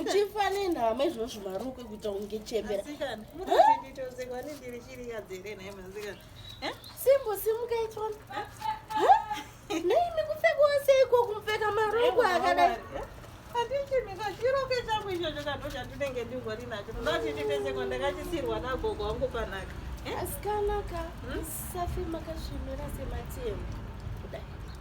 uchifa nenhama izvozvo maruko ekuita unge chembera simbo simuka itona nei mikupfekawo seiko kumupfeka maruko akadai handichimikachiroko changu ichocho kanhu chandinenge ndingori nacho ndati ndipeseko ndakachisirwa nagogo wangu panaka asikanaka musafe makasvinura sematemba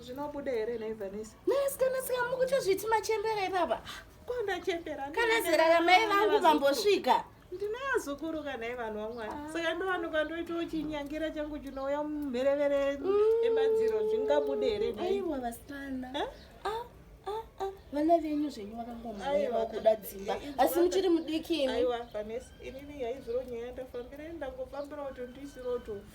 zvinobuda here nhai vanesa nhai sikana sika mukuchozviti machembera ipapa kwandachembera kana zera ramai vangu vambosvika ndinaazukuruka nhai vanhu vamwari ah. saka ndovanuka ndoitawo chinyangira changu chinouya mumherevere mm. emadziro zvingabude here aiwa vasikana eh? ah, ah, vana venyu zvenyu vakangomaiwa kuda dzimba eh, asi muchiri mudiki imi aiwa vanesi inini yaizviro nyaya ndafambira ndangofambira kuti ndisiroto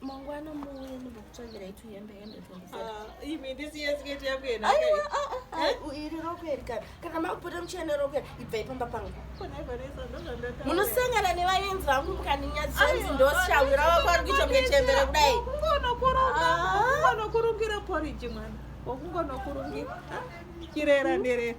mangwana muuye ndimbokutsvagirai tuhembe hembe twendisevenaiwa iri roko iri kana kana makupota muchene roko iri ibvai pamba pangu munosangana nevayenzi vangu mukaninyadzanzi ndoshaura wako ari kuita mune chembere kudai kungonokurungira poriji mwana wakungonokurungira chirera nderera